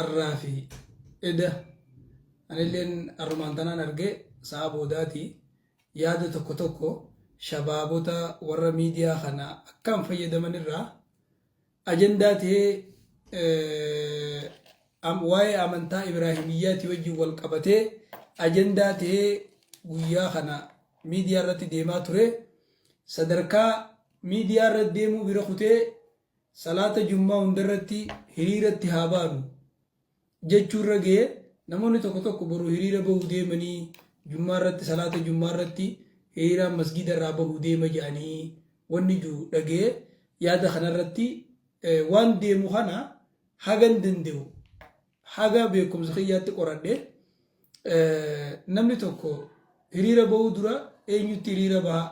arraa fi eda anilleen arrumaan tanaan arge sa'a boodaati yaada tokko tokko shabaabota warra miidiyaa kana akkaan fayyadaman irraa ajandaa ta'ee eh, am- waa'ee amantaa Ibraahimiyyaatii wajjin wal qabatee ajandaa ta'ee guyyaa kana miidiyaa irratti deemaa ture sadarkaa miidiyaa irratti deemuu bira kutee Salaata Jummaa hundarratti hiriiratti haa baanu jechuu irra ga'ee namoonni tokko tokko boru hiriira bahu deemanii Jummaarratti salaata Jummaarratti hiriiraan masgiida irraa bahu deema jedhanii wanni jiru dhaga'ee yaada kanarratti waan deemu kana hagan danda'u haga beekumsa kiyyaatti qoradhe namni tokko hiriira bahuu dura eenyutti hiriira baha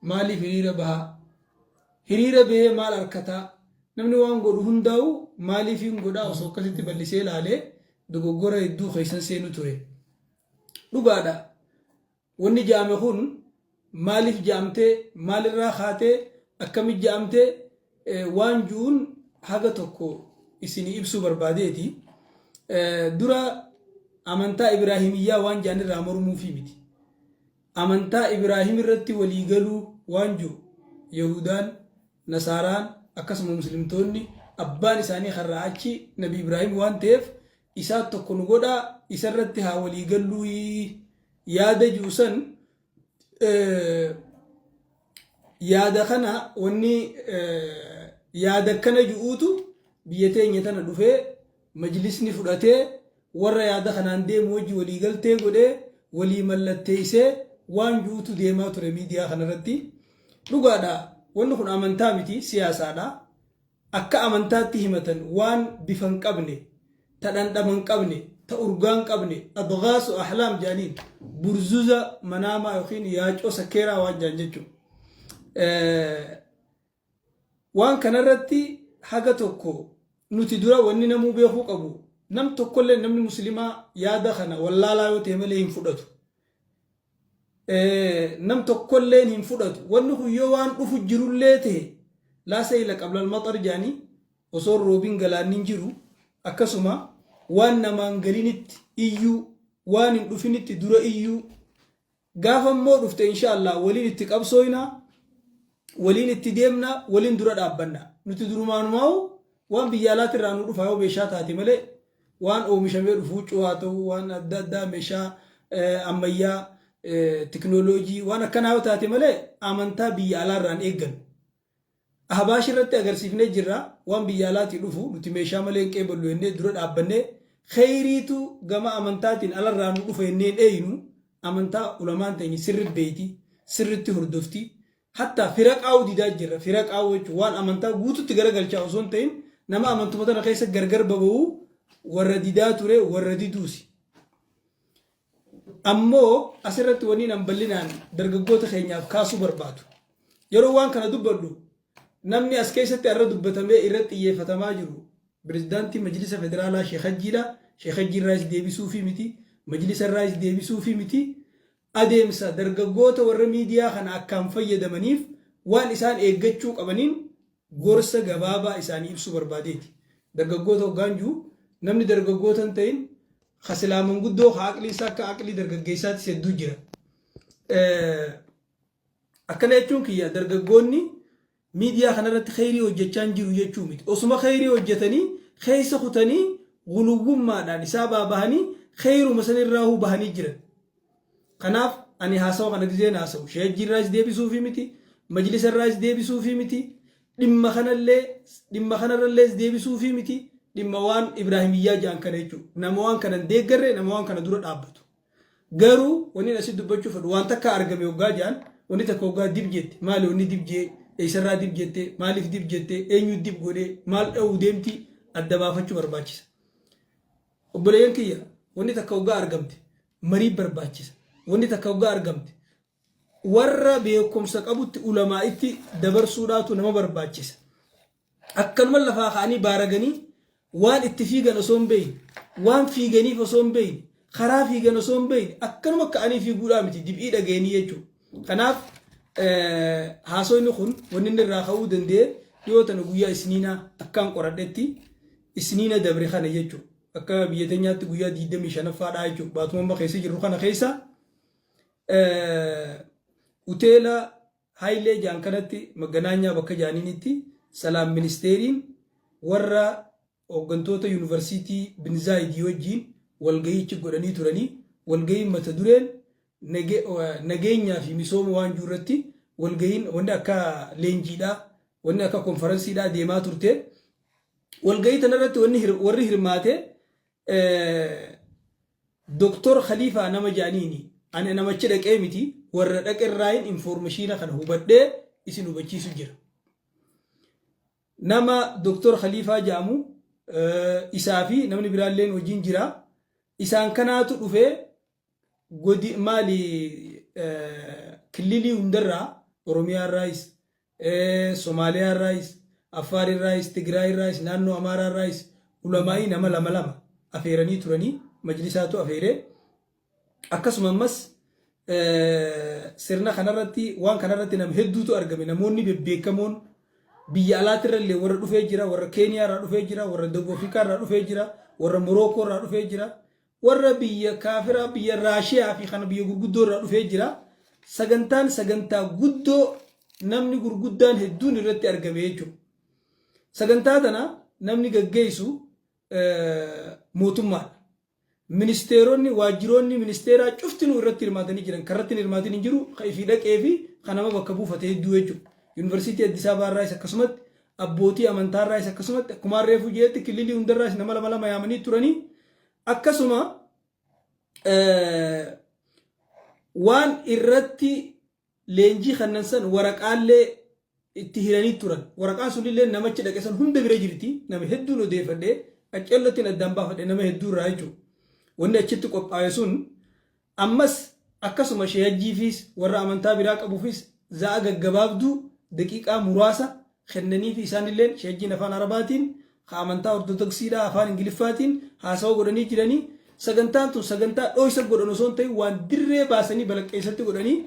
Maaliif hiriira bahaa? Hiriira bahee maal arkataa? Namni waan godhu hundaawu maaliifiin godhaa osoo akkasitti ballisee ilaalee dogoggora hedduu keessan seenu ture. Dhugaadha. Wanni jaame kun maaliif jaamtee, maalirraa kaatee, akkamitti jaamtee waan ju'uun haga tokko isinii ibsuu barbaadeeti. Dura amantaa Ibraahimiyyaa waan jaanirraa mormuufii miti. Amantaa Ibraahim irratti walii galuu waan jiru Yahuudaan, Nasaaraan akkasuma Muslimtoonni abbaan isaanii har'aa achi Nabi Ibraahim waan ta'eef isaat tokko nu godhaa isa irratti haa walii galluuyi yaada ji'u san yaada kana wanni yaada akkana ji'uutu biyya teenya tana dhufee Majlisni fudhatee warra yaada kanaan deemu wajji walii galtee godhee walii mallatteessee waan ju'utu deemaa ture miidiyaa kanarratti. Dhugaadha wanni kun amantaa miti siyaasaadha. Akka amantaatti himatan waan bifa hin qabne, ta dhandhama hin qabne, ta urgaa hin qabne, adghaasu ahlaam jaaniin, burzuza manaamaa yookiin yaacoo sakkeeraa waan jaan jechuudha. Waan kana irratti haga tokko nuti dura wanni namuu beekuu qabu nam tokkolleen namni muslimaa yaada kana wallaalaa yoo tahe malee hin fudhatu. Nam tokkolleen hin fudhatu. Wanni kun yoo waan dhufu jirullee tahe laa sayla qabla almaxar jedhani osoo hin roobin galaanni hin jiru akkasuma waan namaan galinitti iyyuu waan hin dhufinitti dura iyyuu Gaafa immoo dhufte inshaallah waliin itti qabsooyna, waliin itti deemna, waliin dura dhaabbanna. Nuti durumaanumaa'u waan biyya alaati irraa nu dhufa yoo meeshaa taate malee waan oomishamee dhufu huccuu haa ta'u waan adda addaa meeshaa ammayyaa teknooloojii waan akkanaa yoo taate malee amantaa biyya alaa irraan eeggannu. Ahbaash irratti agarsiifnee jirra, waan biyya alaatii dhufu nuti meeshaa malee hin qeeballu jennee dura dhaabbannee, kheyriitu gama amantaatiin alarraa nu dhufa jennee hin eeynu, amantaa ulamaan teenya sirri beeyti, sirritti hordofti, hattaa firaqaa'uu didaa jirra, firaqaa'uu jechuun waan amantaa guututti garagalchaa osoo hin tahin, nama amantuma tana keessa gargar baba'uu warra didaa ture, warra diduusi. Ammoo asirratti wanniin an bal'inaan dargaggoota keenyaaf kaasuu barbaadu. Yeroo waan kana dubbadhu namni as keessatti har'a dubbatamee irratti xiyyeeffatamaa jiru Pirezidaantii Majlisa Federaalaa Sheek Hajjiidha. Sheek Hajjii irraayis deebisuufii miti. Majlisa irraayis deebisuufii miti. Adeemsa dargaggoota warra miidiyaa kana akkaan fayyadamaniif waan isaan eeggachuu qabaniin gorsa gabaabaa isaanii ibsuu barbaadeeti. Dargaggoota hoggaan ji'u namni dargaggoota hin ta'in ka silaa manguddoo ka aqliin isaa akka aqlii dargaggeessaatis hedduu jira. Akkana jechuun kiyya dargaggoonni miidiyaa kanarratti kheyrii hojjechaa hin jiru jechuu miti. Osuma kheyrii hojjetanii keessa kutanii guluwwummaadhaan isaa baabahanii kheyruma sanirraa huu bahanii jiran. Kanaaf ani haasawa kana gizeen haasa'u shayajjii irraayis deebisuufii miti, majlisa irraayis deebisuufii miti, dhimma kanallee dhimma kanarrallees deebisuufii miti, dhimma waan Ibraahimiyyaa jedhan kana jechuudha. Nama waan kana hin deeggarre, nama waan kana dura dhaabbatu. Garuu wannin asitti dubbachuu fedhu waan takka argame hoggaa jedhan wanni takka hoggaa dib jette maali wanni dib jee eessarraa dib jette maaliif dib jette eenyu dib godhe maal dha'uu deemti adda baafachuu barbaachisa. Obboleeyyan kiyya wanni takka hoggaa argamte marii barbaachisa. Wanni takka hoggaa argamte warra beekumsa qabutti ulamaa'itti dabarsuudhaatu nama barbaachisa. Akkanuma lafaa ka'anii baaraganii waan itti fiigan osoo hin beeyne, waan fiiganiif osoo hin beeyne, karaa fiigan osoo hin beeyne akkanuma ka'anii fiiguudhaa miti dib'ii dhagayanii jechuudha. Kanaaf haasoyni kun wanni inni irraa ka'uu danda'e dhiyoo tana guyyaa isniinaa akkaan qoradhetti isniina dabre kana jechuudha. Akka biyya teenyaatti guyyaa 25ffaa dhaa jechuudha. Baatuma amma keessa jirru kana keessa hoteela Haayilee jaan kanatti maganaanyaa bakka jaaniinitti salaam ministeeriin warra hooggantoota yuunivarsiitii Binzaayidii wajjin walga'iichi godhanii turanii walga'iin mata dureen nageenyaa fi misooma waan jiru irratti walga'iin wanni akka leenjiidhaa wanni akka konfaransiidhaa deemaa turte. Walgahii tana irratti wanni hir- warri hirmaate eh, Doktor Khaliifaa nama jaaniini. Ani namachi dhaqee miti warra dhaqe irraayin informashiina kana hubadhee isin hubachiisu jira. Nama Doktor Khaliifaa jaamu eh, isaa fi namni biraalleen wajjin jira. Isaan kanaatu dhufee godi maali killilii hundarraa Oromiyaa irraayis, Somaaliyaa irraayis, Affaar irraayis, Tigraay irraayis, naannoo Amaaraa irraayis ulamaa'ii nama lama lama afeeranii turanii majlisaatu afeeree akkasuma ammas sirna kanarratti waan kanarratti nam hedduutu argame namoonni bebbeekamoon biyya alaatti irra illee warra dhufee jira warra keeniyaa irraa dhufee jira warra dawub afrikaa irraa dhufee jira warra morookoo irraa dhufee jira Warra biyya kaafiraa biyya Raashiyaa fi kana biyya gurguddoo irraa dhufee jira. Sagantaan sagantaa guddoo namni gurguddaan hedduun irratti argame jechuudha. Sagantaa tana namni gaggeessu mootummaadha. Ministeeronni waajjiroonni ministeeraa cuftinuu irratti hirmaatanii jiran. Kan irratti hin hirmaatin hin jiru. Kan ifii dhaqee fi kan nama bakka buufate hedduu jechuudha. Yuunivarsiitii Addis Ababaa irraas akkasumatti abbootii amantaa irraas akkasumatti akkumaan reefuu jedhetti kililii hunda irraas nama lama lama yaamanii turanii Akkasuma waan irratti leenjii kannan san waraqaallee itti hiranii turan. Waraqaan sunillee namachi dhaqe san hunda bira jirti. Nama hedduun odeeffadhe. Qaccellottiin addaan baafadhe nama hedduu irraa jechuudha. Wanni achitti qophaa'e sun Ammas akkasuma Shee Hajjiifiis warra amantaa biraa qabuufis za'a gaggabaabduu, daqiiqaa muraasa, kennaniifi isaanilleen Shee Hajjiin Afaan Arabaatiin, ka amantaa Ortodoksiidhaa Afaan Ingiliffaatiin haasawa godhanii jiranii, sagantaan tun sagantaa dhooysa godhan osoo hin tahin waan dirree baasanii balaqqeeysatti godhanii,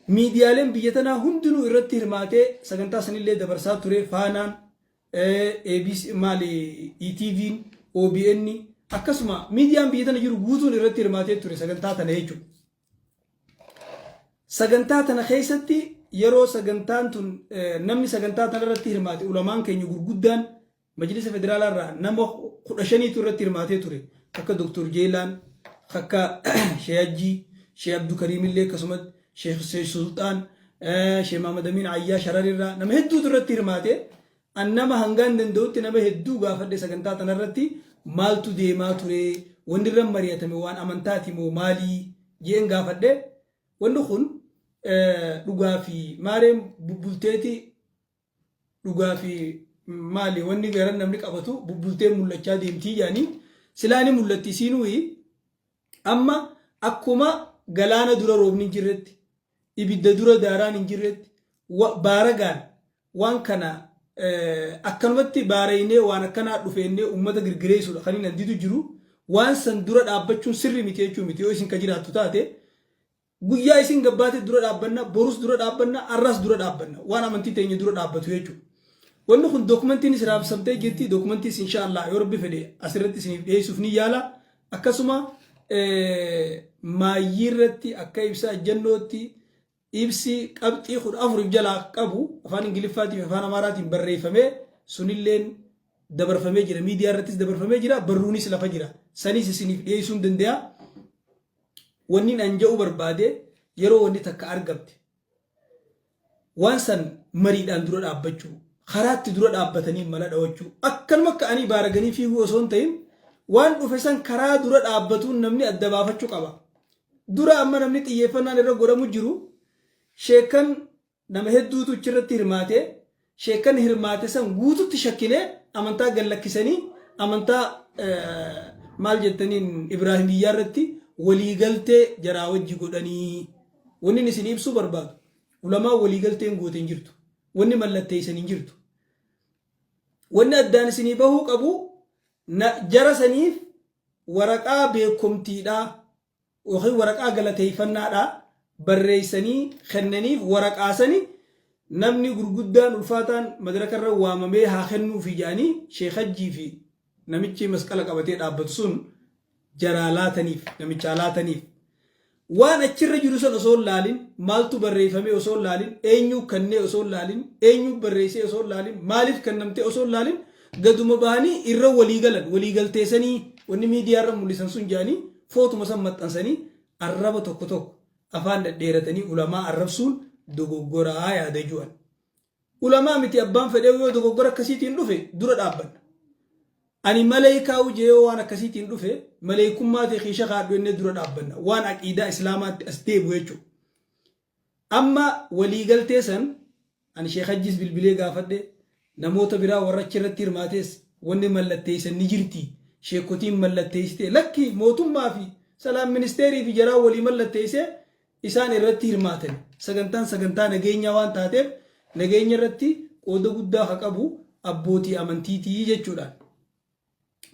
miidiyaaleen biyya tanaa hundinuu irratti hirmaatee sagantaa sanillee dabarsaa ture, Faanaan, ABC maali ETVn, OBN akkasuma miidiyaan biyya tana jiru guutuun irratti hirmaatee ture sagantaa tana jechuudha. Sagantaa tana keessatti yeroo sagantaan tun namni sagantaa tana irratti hirmaate ulamaan keenya gurguddaan majlisa federaalaa irraa nama kudha shaniitu irratti hirmaatee ture akka Dr. Jeelaan akka Sheeyajjii Shee Abdukariimillee akkasumatti Sheekh Seesh Sultaan, Sheekh Mahamad Amiin Ayyaa Shararirraa nama hedduutu irratti hirmaate. An nama hangaan danda'utti nama hedduu gaafadhe sagantaa tanarratti maaltu deemaa ture wanni irra mari'atame waan amantaati moo maalii jeen gaafadhe. Wanni kun dhugaa fi maareen bubbulteeti dhugaa fi maali wanni garan namni qabatu bubbultee mul'achaa deemtii jedhanii silaa ni mul'atti isiinuyi amma akkuma galaana dura roobni hin jirretti ibidda dura daaraan hin jirretti baaragaan waan kana akkanumatti baaraynee waan akkanaa dhufeennee uummata girgireessuudha kan inni didu jiru waan san dura dhaabbachuun sirri miti jechuu miti yoo isin ka jiraattu taate Guyyaa isiin gabbaate dura dhaabbanna, borus dura dhaabbanna, har'as dura dhaabbanna. Waan amantii teenya dura dhaabbatu jechuudha. Wanni kun dookumantiinis raabsamtee jirti. Dookumantiis inshaa Allah yoo rabbi fedhe asirratti isiniif dhiyeessuuf ni yaala. Akkasuma maayyii irratti akka ibsa ajjannootti ibsi qabxii kudha afuriif jalaa qabu afaan Ingiliffaatii fi afaan Amaaraatiin barreeffamee sunilleen dabarfamee jira. Miidiyaa irrattis dabarfamee jira. Barruunis lafa jira. Sanis isiniif dhiyeessuun danda'a. wannin an ja'uu barbaade yeroo wanni takka argamte waan san mariidhaan dura dhaabbachuu karaatti dura dhaabbatanii mala dhawachuu akkanuma akka anii baaraganii fiiguu osoo hin ta'in waan dhufe san karaa dura dhaabbatuun namni adda baafachuu qaba dura amma namni xiyyeeffannaan irra godhamu jiru sheekan Nama hedduutu ichirratti hirmaate. Sheekkan hirmaate san guututti shakkinee amantaa gad lakkisanii amantaa maal jettaniin Ibraahimiyyaa irratti walii galtee jaraa wajji godhanii. Wannin isinii ibsuu barbaadu ulamaan walii galteen goote hin jirtu. Wanni mallatteeysan hin jirtu. Wanni addaan isinii bahuu qabu jara saniif waraqaa beekkomtiidhaa ykn waraqaa galateeffannaadhaa barreessanii kennaniif waraqaa sani namni gurguddaan ulfaataan madraka irra waamamee haa kennuufi jedhanii sheek hajjii fi namichi masqala qabatee dhaabbatu sun jaraa laataniif namichaa laataniif waan achirra jiru san osoo hin laalin maaltu barreeffamee osoo hin laalin eenyuu kennee osoo hin laalin eenyuu barreessee osoo hin laalin maaliif kennamtee osoo hin laalin Gaduma bahanii irra walii galan walii galtee sanii wanni miidiyaa irra mul'isan sun jedhanii footuma san maxxansanii arraba tokko tokko afaan dhadheeratanii ulamaa arrabsuun dogoggoraa yaada ju'an. Ulamaa miti abbaan fedhee yoo dogoggora akkasiitiin dhufe dura dhaabbanna. Ani maleekaa ujee yoo waan akkasiitiin dhufe maleekummaa ta'e keesha kaadhu innee dura dhaabbanna. Waan aqiidaa islaamaatti as deebu jechuudha. Amma waliigaltee san ani Sheikh Hajjiis bilbilee gaafadhe, namoota biraa warra achi irratti hirmaatees wanni mallatteessan ni jirti, sheekkotiin mallatteessitee? Lakki mootummaa fi Salaam Ministeerii fi jaraa walii mallatteessee isaan irratti hirmaatani. Sagantaan sagantaa nageenyaa waan taateef nageenya irratti qooda guddaa ka qabu abbootii amantiiti jechuudhaan.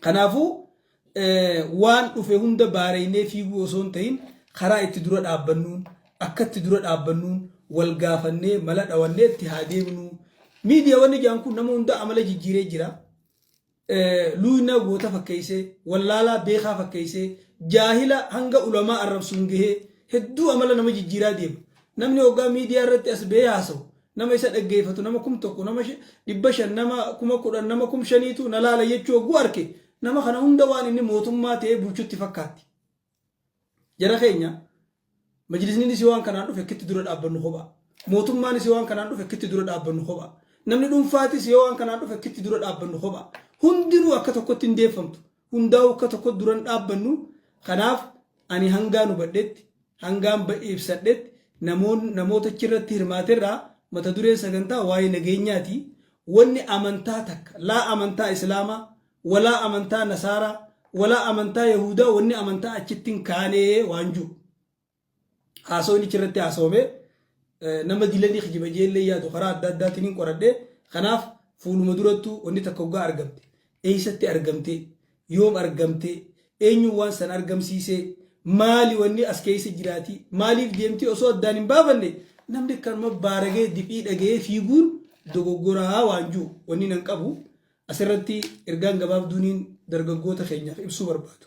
Kanaafuu waan dhufe hunda baareeynee fiiguu osoo hin tahin karaa itti dura dhaabbannuun akka itti dura dhaabbannuun wal gaafannee mala dhawannee itti haa deemnuu. Miidiyaa wanni jaan kun nama hundaa amala jijjiiree jira. Luuynaa goota fakkeeysee, wallaalaa beekaa fakkeeysee, jaahila hanga ulamaa arrabsuun gahee hedduu amala nama jijjiiraa deema. Namni hoggaa miidiyaa irratti as bahee haasawu Nama isa dhaggeeffatu nama kum tokko nama dhibba shan nama kuma kudhan nama kum shaniitu na laala jechuu hogguu arke nama kana hunda waan inni mootummaa ta'ee bulchutti fakkaatti. Jara keenya majlisniinis waan kanaan dhufe akkitti dura dhaabbannu kophaa. Mootummaanis waan kanaan dhufe akkitti dura dhaabbannu kophaa. Namni dhuunfaatis yoo waan kanaan dhufe akkitti dura dhaabbannu kophaa. Hundinuu akka tokkotti hin deeffamtu. hundaa'uu akka tokko duran dhaabbannu kanaaf ani hangaan hubadhetti hangaan ba'e ibsadhetti namoon- namoota achirratti hirmaaterraa mata dureen sagantaa waa'ee nageenyaati wanni amantaa takka laa amantaa islaamaa walaa amantaa nasaaraa walaa amantaa yahuudaa wanni amantaa achitti hin kaanee waan jiru Haasawni achirratti haasawame nama dila ni kijiba jeellee yaadu karaa adda addaatiin hin qoradhe. Kanaaf fuuluma durattuu wanni takka hoggaa argamte eessatti argamte yoom argamte eenyuun waan san argamsiise maali wanni as keessa jiraati maaliif deemti osoo addaan hin baafanne namni kanuma baaragee dif'ii dhaga'ee fiiguun dogoggoraa waan jiru wanni nan qabu asirratti ergaan gabaabduuniin dargaggoota keenyaaf ibsuu barbaadu.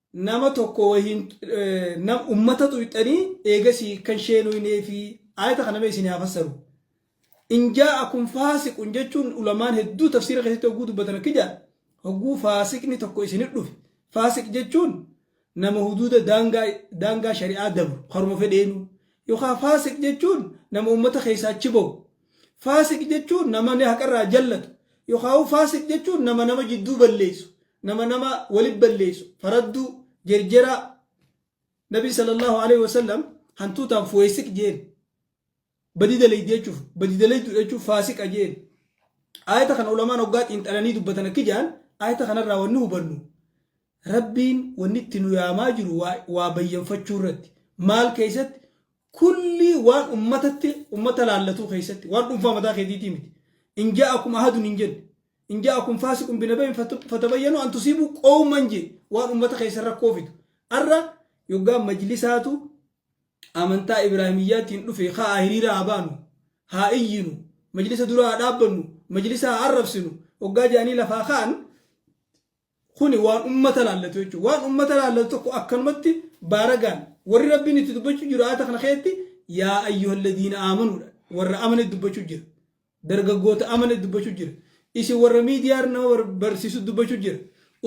nama tokko wahiin nam ummata tuyxanii eegasii kan sheenuyinee fi aayata kana mee isin haa fassaru in jaa'akum faasiqun jechuun ulamaan hedduu tafsiira keessatti hogguu dubbatan akki jedha hogguu faasiqni tokko isin dhufe faasiq jechuun nama huduuda daangaa daangaa shari'aa dabru karuma fedheenu yookaan faasiq jechuun nama ummata keessaa achi ba'u Faasiq jechuun nama haqa irraa jallatu, yokhaa'uu faasiq jechuun nama nama jidduu balleessu, nama nama wali balleessu, faradduu, jerjeraa. Nabiin sallallahu alaihi wasallam hantuutaan fuweesiq jeen. Badi dalaydi jechuuf, badi dalaydu jechuuf faasiqa jeen. Aayata kana ulamaan hoggaa xiinxalanii dubbatan akki jaan, aayata kanarraa wanni hubannu, Rabbiin wanni itti nu yaamaa jiru waa, waa bayyanfachuu irratti. Maal keessatti? Kullii waan ummatatti, ummata laallatuu keessatti. Waan dhuunfaa mataa keetiitii miti. In ja'akum ahadun hin jenne. In ja'akum faasiqun binaba'in fatu- fatabayyanu an tusiibu qawman je. Waan ummata keessa rakkoo fidu. Arra yoggaa majlisaatu amantaa Ibraahimiyyaatiin dhufe ka'aa hiriira haa baanu, haa iyyinu, majlisa dura haa dhaabbannu, majlisa haa arrabsinu, hoggaa jedhanii lafaa ka'an Kuni waan ummata laallatu jechuudha. Waan ummata laallatu tokko akkanumatti baaragaan warri Rabbiin itti dubbachuu jiru aayata kana keessatti yaa ayyuhalladiina aamanuudha. Warra amane dubbachuu jira. Dargaggoota amane dubbachuu jira. Isin warra miidiyaar nama bar- barsiisu dubbachuu jira.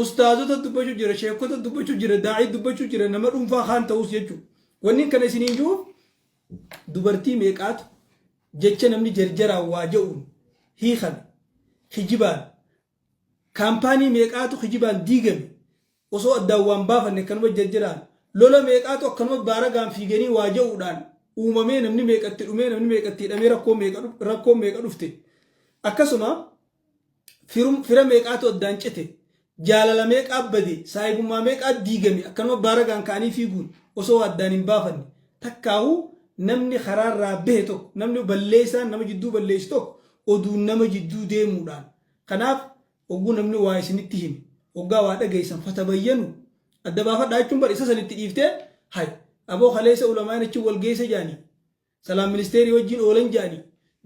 Ustaazota dubbachuu jira. Sheekota dubbachuu jira. Daa'ii dubbachuu jira. Nama dhuunfaa kaan ta'us jechuudha. Wanni kana isiniin jiruuf dubartii meeqaatu jecha namni jarjaraan waa ja'uun hiikan kijibaan Kaampaanii meeqaatu kijibaan diigame osoo addaan waan baafanne akkanuma jajjiraan lola meeqaatu akkanuma baaragaan fiiganii waa ja'uudhaan uumamee namni meeqa itti dhumee namni meeqa itti hidhamee rakkoo meeqa rakkoon meeqa dhufte akkasuma firum- fira meeqaatu addaan cite jaalala meeqaa bade saahibummaa meeqaa diigame akkanuma baaragaan ka'anii fiiguun osoo waa addaan hin baafanne takkaahuu namni karaarraa bahe tokko namni balleessaan nama jidduu balleessu tokko oduun nama jidduu deemuudhaan kanaaf ogguu namni waa isinitti hime oggaa waa dhageessan fatabayyanu adda baafadhaa jechuun bar isa san itti dhiiftee hay aboo kaleessa ulamaan achi wal geesse jaanii salaam ministeerii wajjin oolan jaanii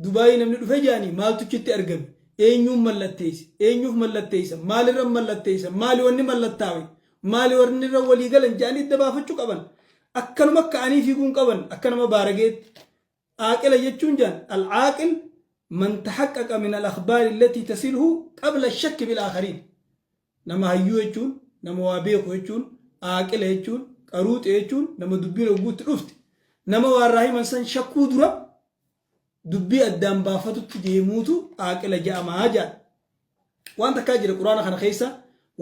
dubaayii namni dhufe jaanii maaltu achitti argame eenyuun mallatteesse eenyuuf mallatteessa maalirra mallatteessa maali wanni mallattaawe maali warri irra walii galan jaanii adda baafachuu qaban akkanuma akka anii fiiguun qaban akka nama baarageetti Aaqila jechuun jaan al-aaqil man tahaqqaqa min al-akhbaari allatii tasilhu qabla ash-shakki bil-aakhariin. Nama hayyuu jechuun, nama waa beeku jechuun, aaqila jechuun, qaruuxe jechuun nama dubbiin hogguu itti dhufte, nama waa irraa himan san shakkuu dura dubbii addaan baafatutti deemuutu aaqila ja'ama jaan. Waan takkaa jira Qur'aana kana keessa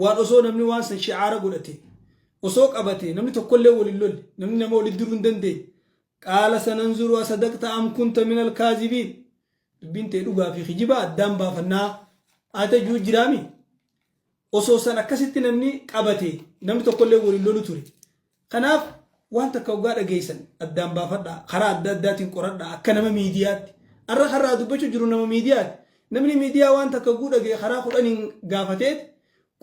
waan osoo namni waan san shi'aara godhate, osoo qabate namni tokkollee wal hin lolle, namni nama walitti diruu hin dandeenye, Qaala sananzuru asadaqta am kunta minal kaazibiin. Dubbiin tee dhugaa fi kijiba addaan baafannaa. Aate juu jiraami. Osoo san akkasitti namni qabate namni tokkollee waliin lolu ture. Kanaaf waan takka hoggaa dhageessan addaan baafadhaa. Karaa adda addaatiin qoradhaa akka nama miidiyaatti. Arra karraa dubbachuu jiru nama miidiyaati. Namni miidiyaa waan takka guu dhagee karaa kudhaniin gaafateet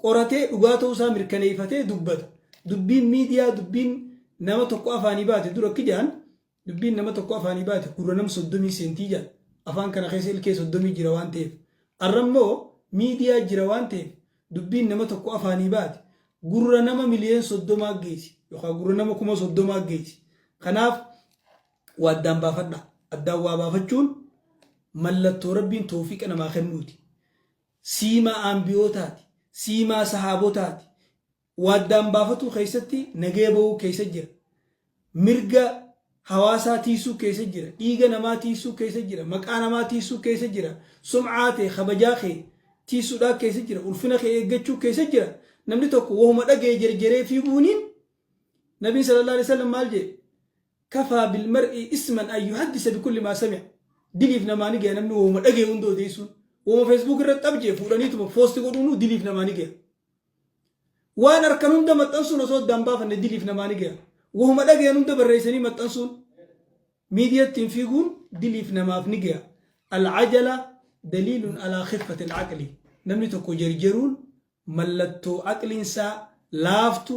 qoratee dhugaa ta'uu isaa mirkaneeyfatee dubbata. Dubbiin miidiyaa dubbiin nama tokko afaanii baate dura akki jedhan dubbiin nama tokko afaanii baate gurra nam soddomii seentii jedhan. Afaan kana keessa ilkee soddomii jira waan ta'eef. Arra immoo miidiyaa jira waan ta'eef dubbiin nama tokko afaanii baate gurra nama miliyeen soddomaa geessi yookaan gurra nama kuma soddomaa geessi. Kanaaf waa addaan baafadha. Addaan waa baafachuun mallattoo rabbiin toofiqa namaa kennuuti. siimaa aanbiyootaati, siimaa sahaabotaati, wa addaan baafatuu keessatti nagaya bahuu keessa jira, mirga hawaasaa tiysuu keessa jira, dhiiga namaa tiysuu keessa jira, maqaa namaa tiysuu keessa jira, sum'aa tee, kabajaa kee tiysudhaa keessa jira, ulfina kee eeggachuu keessa jira, namni tokko wahuma dhagaye jerjeree fiiguuniin Nabiin sallallaahu aleyhi wasallam maal jedhe? Kafaa bil mar'i isman an yuhaddisa bi kulli maa sami'a. Diliif namaa ni gaya namni wahuma dhagaye hunda odeessuun. Wahuma Facebook irratti xab jee fuudhaniituma post godhuunuu diliif namaa ni gaya. Waan arkan hunda maxxansuun osoo addaan baafanne diliif namaa ni gaya. Wahuma dhagayan hunda barreessanii maxxansuun miidiya ittiin fiiguun diliif namaaf ni gaya. Al-ajala daliilun alaa khiffati al-aqli. Namni tokko jarjaruun mallattoo aqliin isaa laaftu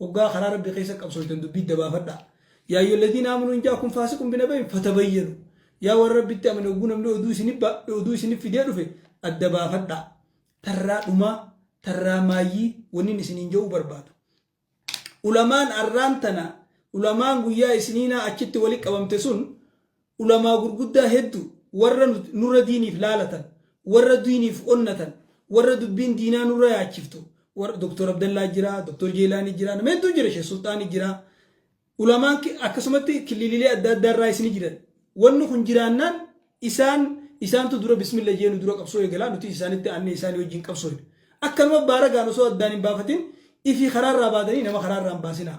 Hoggaa karaa Rabbi keessa qabsooytan dubbii idda baafadhaa. Yaa ayyuhalladiina aamanuu in jaa'akum faasiqun binaba'in fatabayyanu. Yaa warra Rabbitti amane hogguu namni oduu isinif ba- oduu isinif fidee dhufe adda baafadhaa. Tarraa dhumaa, tarraa maayyii wannin isiniin ja'uu barbaadu. Ulamaan arraan tana, ulamaan guyyaa isniinaa achitti wali qabamte sun Ulamaa gurguddaa heddu warra nurra diiniif laalatan, warra duyniif onnatan, warra dubbiin diinaa nurra yaachiftu, warra Dr. Abdallaa jira, Dr. Jeelaanii jira, nama hedduun jira, Sheikh Sulxaani jira. Ulamaan akkasumatti kililiilee adda addaa irraayis ni jiran. Wanni kun jiraannaan isaan isaantu dura bismilla jee nu dura qabsoo eegalaa nuti isaanitti aannee isaanii wajjin qabsooyna. Akkanuma baaragaan osoo addaan hin baafatin ifii karaa irraa baatanii nama karaa irraa hin baasinaa.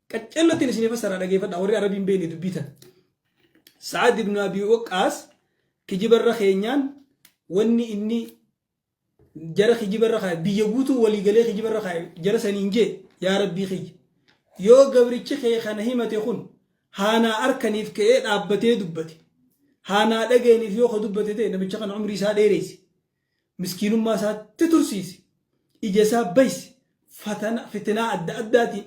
Qaccallottiin isinii fassaraa dhageeffadha warri arabii hin beekne dubbii tana. Sa'ad ibn Abi Waqqaas kijibarra keenyaan wanni inni jara kijibarra kaa'e biyya guutuu walii galee kijibarra kaa'e jara saniin jee yaa rabbii kiyya. Yoo gabrichi kee kana himate kun haanaa arkaniif ka'ee dhaabbatee dubbate. Haanaa dhageeniif yoo ka dubbate ta'e namicha kana umrii isaa dheereyse. Miskiinummaa isaatti tursiisi. Ija isaa baysi. Fatana, fitinaa adda addaatiin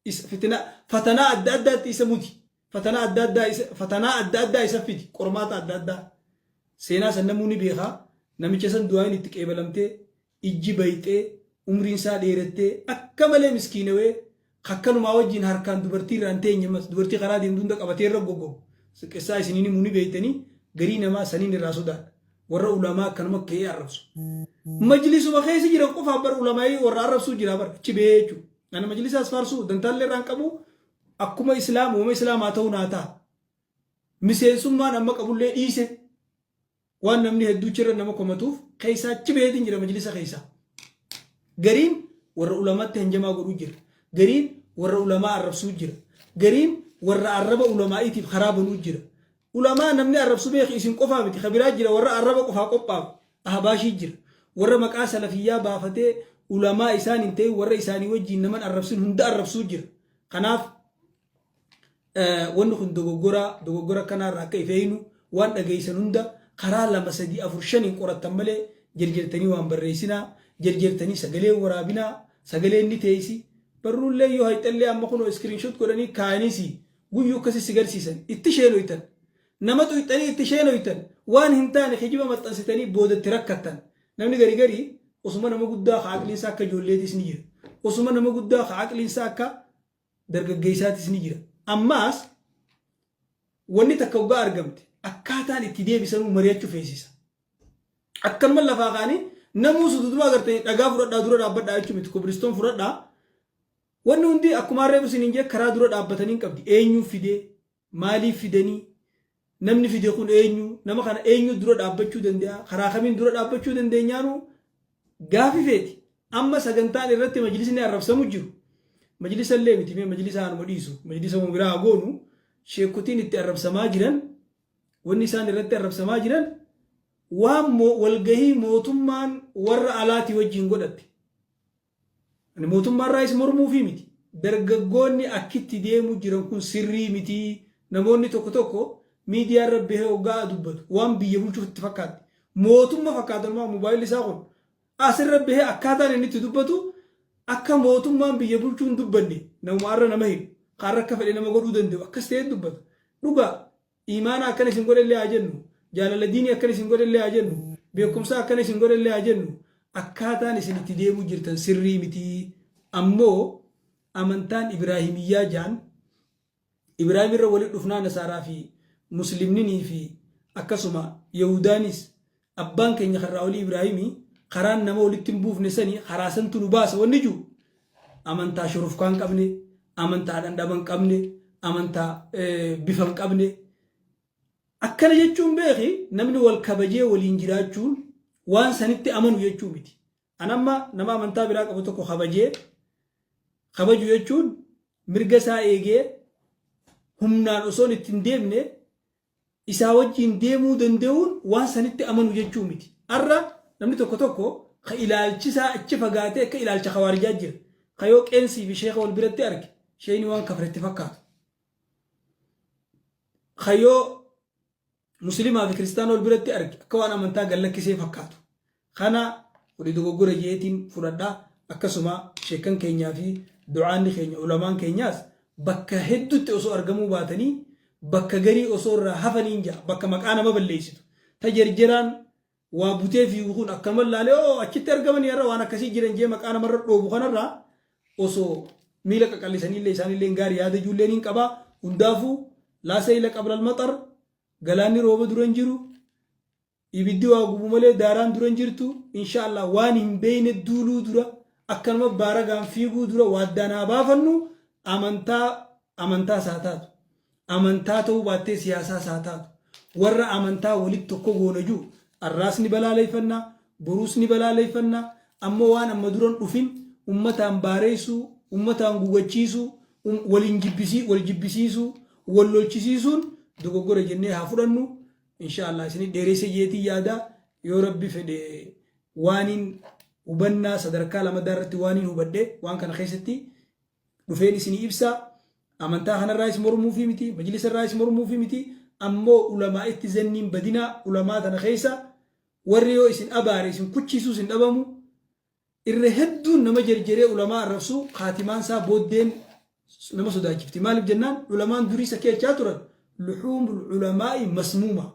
isa, fitinaa, fatanaa adda addaatti isa muti. Fatanaa adda addaa isa, fatanaa adda addaa isa fidi. Qormaata adda addaa. Seenaa san namuu ni beekaa. Namicha san du'aayin itti qeebalamtee, ijji bayxee, umriin isaa dheerattee, akka malee miskiinawee, Akkanumaa wajjiin harkaan dubartii irraa hin teenye ammas dubartii karaa deemtu hunda qabatee irra gogoru xiqqessaa isin hin himu ni beeytanii garii namaa saniin irraa sodaadha warra ulamaa akkanuma ka'ee arrabsu majlisuma keessa jiran qofaaf bar ulamaa'ii warra arrabsuu jira bar achi ba'ee jechuudha ana majlisaas faarsuu dantaallee irraan qabu akkuma islaam uuma islaamaa ta'uu naa ta'a miseensummaan amma qabullee dhiise waan namni hedduu chirra nama komatuuf keessaa chibeetiin jira majlisa keessaa. Gariin warra ulamaatti hanjamaa godhuu jira. Gariin warra ulamaa arrabsuu jira. Gariin warra arraba ulamaa'iitiif karaa banuu jira. Ulamaa namni arrabsu beeki isin qofaa miti ka biraa jira warra arraba qofaa qophaa'u ahbaashii jira. Warra maqaa salafiyyaa baafatee ulamaa isaan hin ta'in warra isaanii wajjiin naman arrabsin hunda arrabsuu jira. Kanaaf wanni kun dogoggoraa dogoggora akkanaa irraa akka ifeeynu waan dhageeysan hunda karaa lama sadii afur shaniin qorattan malee jerjertanii waan barreeysinaa jerjertanii sagalee waraabinaa sagaleen ni teeysi barruullee yoo hayxallee amma kunoo iskiriinshot godhanii kaayaniisi guyyuu akkasi si garsiisan itti sheenoytan nama xuyxanii itti sheenoytan waan hin taane kijiba maxxansitanii boodatti rakkattan namni gari gari osuma nama guddaa ka aqliinsaa akka ijoolleetiis ni jira osuma nama guddaa ka aqliinsaa akka dargaggeessaatis ni jira. Ammaas wanni takka hoggaa argamte akkaataan itti deebisanuu mari'achuu feesisa. Akkanuma lafaa kaanii namuu sududumaa agartee dhagaa fudhadhaa dura dhaabbadhaa jechuun miti kobilistoon fudhadhaa. Wanni hundi akkuma harree busin hin jee karaa dura dhaabbatanii hin qabdi. Eenyuun fidee Maaliif fidanii? Namni fide kun eenyu? Nama kana eenyu dura dhaabbachuu danda'a? Karaa kamiin dura dhaabbachuu dandeenyaanu gaafi feeti. Amma sagantaan irratti majlisni arrabsamu jiru. Majlisa illee miti mee majlisa anuma dhiisu. Majlisa uma biraa haa goonu. Sheekotiin itti arrabsamaa jiran wanni isaan irratti arrabsamaa jiran waan mo- walgahii mootummaan warra alaatii wajjin godhatte. Ani mootummaarraa is mormuufii miti. Dargaggoonni akkitti deemu jiran kun sirrii miti. Namoonni tokko tokko miidiyaarra bahee oggaa dubbatu waan biyya bulchuuf itti fakkaatti. Mootumma fakkaata numaa mobaayilli isaa kun. Asirra bahee akkaataan inni itti dubbatu akka mootummaan biyya bulchuu hin dubbanne namuma arra nama hidhu, ka arra akka fedhe nama godhuu danda'u akkas ta'ee dubbata. Dhugaa Iimaana akkana isin godhe illee haa jennu, jaalala diinii akkana isin godhe illee haa jennu, beekumsaa akkana isin godhe illee haa jennu, akkaataan isin itti deemuu jirtan sirrii miti. Ammoo amantaan Ibraahimiyyaa jaan, Ibraahim irra walitti dhufnaa Nasaaraa fi Muslimninii fi akkasuma Yahuudaanis Abbaan keenya karraa olii Ibraahimii karaan nama walitti hin buufne sani karaa santu nu baasa wanni jiru amantaa shurufkaa hin qabne amantaa dhandhama hin qabne amantaa bifa hin qabne akkana jechuun beeki namni wal kabajee waliin jiraachuun waan sanitti amanu jechuu miti. An amma nama amantaa biraa qabu tokko kabajee kabaju jechuun mirga isaa eegee humnaan osoon itti hin deemne Isaa wajjiin deemuu danda'uun waan sanitti amanu jechuu miti. Arra namni tokko tokko ka ilaalchi isaa achi fagaatee akka ilaalcha khawaarijaa jira. Ka yoo qeensii fi sheekha wal biratti arge sheeyni waan kafre itti fakkaatu. Ka yoo muslimaa fi kiristaana wal biratti arge akka waan amantaa gad lakkisee fakkaatu. Kana kuni dogoggora je'eetiin fudhadha. Akkasuma sheekkan keenyaa fi du'aanni keenya, ulamaan keenyaas bakka heddutti osoo argamuu baatanii bakka garii osoo irraa hafaniin ja'a. Bakka maqaa nama balleessitu. Ta jerjeraan waa butee fiigu kun akkanuma laalee oo achitti argamanii har'a waan akkasii jiran je'ee maqaa namarra dhoobu kanarraa osoo miila qaqallisaniillee isaanilleen gaari yaada juulleen hin qaba. Hundaafuu laa sayla qablal maxar galaanni rooba dura hin jiru. Ibiddi waa gubu malee daaraan dura hin jirtu insha Allah waan hin beeyne duuluu dura akkanuma baaragaan fiiguu dura waaddaan haa baafannu amantaa amantaas haa taatu amantaa ta'uu baattee siyaasaas haa taatu warra amantaa walitti tokko goona jiru arraas ni balaaleeffanna boruus ni balaaleeffanna amma waan amma duran dhufin ummataan baareessuu ummataan gugachiisuu um, waliin jibbisii wal jibbisiisuu wal lolchisiisuun dogoggora jennee haa fudhannu inshaallah isinii dheereysa jeetii yaadaa yoo rabbi fedhe waaniin hubannaa sadarkaa lamadaa irratti waaniin hubadhe waan kana keessatti dhufeen isinii ibsaa amantaa kanarraayis mormuufii miti majlisa irraayis mormuufii miti ammoo ulamaa itti zanniin badinaa ulamaa tana keessa warri yoo isin abaare isin kuchiisuus hin dhabamu irra hedduun nama jerjeree ulamaa arrabsuu kaatimaan isaa booddeen nama sodaachifti maaliif jennaan ulamaan durii isa keechaa turan luxuumul ulamaa'i masmuuma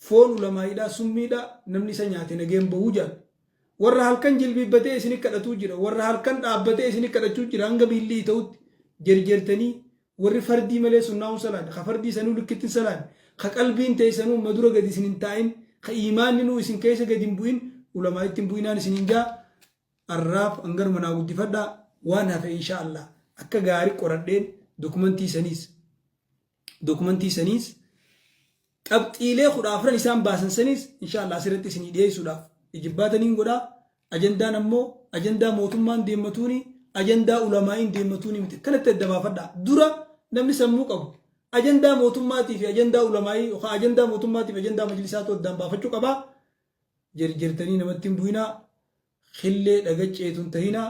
foon ulamaa'idhaa summiidhaa namni isa nyaate nageen bahuu jaal warra halkan jilbiibbatee isin kadhatuu jira warra halkan dhaabbatee isin kadhachuu jira hanga biillii ta'utti jerjertanii Warri fardii malee sunnaa'uun salaanne, ka fardii isanuu likkitti hin salaanne, ka qalbiin teeysanuu ma dura gadi isin hin taa'in, ka iimaanninuu isin keeysa gadi hin bu'in, ulamaa'itti hin bu'inaan isiniin ja'a. Arraaf hanganuma naa guddifadhaa, waan hafe inshaa Allaah akka gaari qoradheen dokumantii saniis, dokumantii saniis, qabxiilee 14n isaan baasan saniis inshaa Allaah asirratti isinii dhiyeeysuudhaaf ijibbaata niin godhaa. Ajandaan ammoo ajandaa mootummaan deemmatuuni ajandaa ulamaa'iin deemmatuuni miti. Kanatti adda baafadhaa. Dura namni sammuu qabu ajandaa mootummaatii fi ajandaa ulamaa'ii yookaan ajandaa mootummaatii fi ajandaa majlisaatu addaan baafachuu qabaa. Jirjirtanii namatti hin bu'inaa. Killee dhagacceetu hin tahinaa.